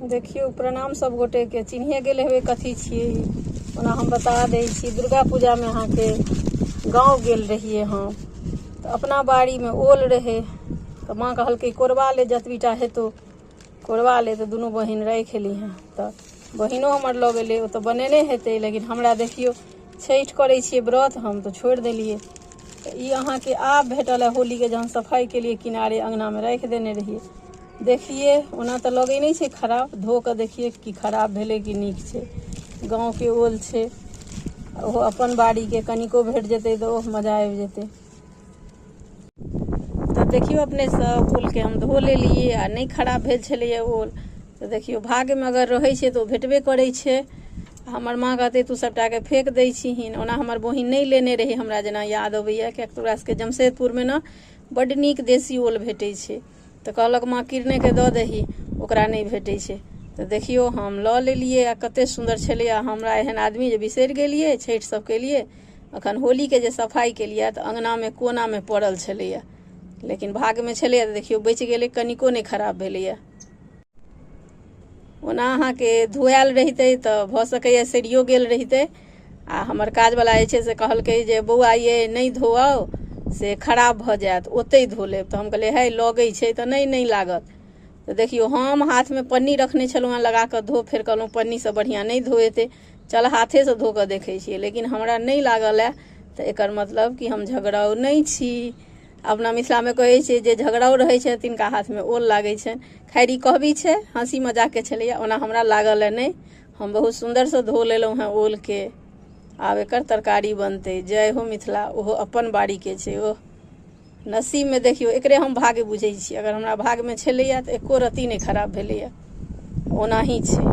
देखियौ प्रणाम सब गोटे के चिन्हे गेल हेबै कथी छियै ई। ओना हम बता दै छी दुर्गा पूजा में अहाँ के गाँव गेल रहिए हम तऽ अपना बाड़ी में ओल रहे तऽ माँ कहलकै कोरबा ले जतबीटा हेतौ कोरबा ले तऽ दुनू बहिन राखि ली हैं तऽ बहिनो हमर लऽ गेलै ओ तऽ बनेने हेतै लेकिन हमरा देखियौ छठि करै छियै व्रत हम तऽ छोड़ि देलियै तऽ ई अहाँके आब भेटल है होली के जहन सफाई के लिए किनारे अंगना में राखि देने रहियै देखिए ओना तऽ लगै नहि छै खराब धो कऽ देखिए कि खराब भेलै कि नीक छै गाँवके ओल छै ओहो अपन बाड़ीके कनिको भेट जेतै तऽ ओहो मजा आबि जेतै तऽ देखियौ अपने सब ओलके हम धो लेलियै आ नहि खराब भेल छलैए ओल तऽ देखियौ भाग्यमे अगर रहै छै तऽ ओ भेटबे करै छै हमर माँ कहतै तू सभटाके फेक दै छीहिन ओना हमर बहिन नहि लेने रही हमरा जेना याद अबैए किएक तऽ ओकरा सभके जमशेदपुरमे ने बड्ड नीक देशी ओल भेटै छै तऽ कहलक माँ किरनेके दऽ दही ओकरा नहि भेटै छै तऽ देखियौ हम लऽ लेलियै आ कतेक सुन्दर छलै आ हमरा एहन आदमी जे बिसरि गेलियै छठि सभ केलियै एखन होलीके जे सफाइ केलियै तऽ अङ्गनामे कोनामे पड़ल छलैए लेकिन भागमे छलैए तऽ देखियौ बचि गेलै कनिको नहि खराब भेलैए ओना अहाँके धुआयल रहितै तऽ भऽ सकैए सड़ियो गेल रहितै आ हमर काजवला जे छै से कहलकै जे बौआ ये नहि धोअउ से खराब भऽ जायत ओतहि धो लेब तऽ हम कहलियै हे लगै छै तऽ नहि नहि लागत तऽ देखियौ हम हाथमे पन्नी रखने छलहुँ हेँ लगा कऽ धो फेर कहलहुँ पन्नीसँ बढ़िआँ नहि धोएतै चल हाथेसँ धो कऽ देखै छियै लेकिन हमरा नहि लागलए तऽ एकर मतलब कि हम झगड़ाउ नहि छी अपना मिथिलामे कहै छै जे झगड़ाओ रहै छै तिनका हाथमे ओल लागै छै खैर ई कहबी छै हँसी मजाकके छलैए ओना हमरा लागल ए नहि हम बहुत सुन्दरसँ धो लेलहुँ हेँ ओलके आब एकर तरकारी बनतै जय हो मिथिला ओहो अपन बाड़ीके छै ओ नसीबमे देखियौ एकरे हम भाग्य बुझै छी अगर हमरा भाग्यमे छलैए तऽ एक्को रत्ती नहि खराब भेलैए ओनाही छै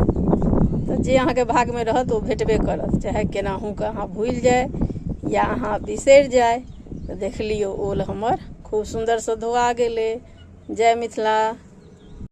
तऽ जे अहाँके भागमे रहत ओ भेटबे करत चाहे केनाहू कऽ अहाँ भूलि जाइ या अहाँ बिसरि जाइ तऽ देख लियौ ओल हमर खूब सुन्दरसँ धोआ गेलै जय मिथिला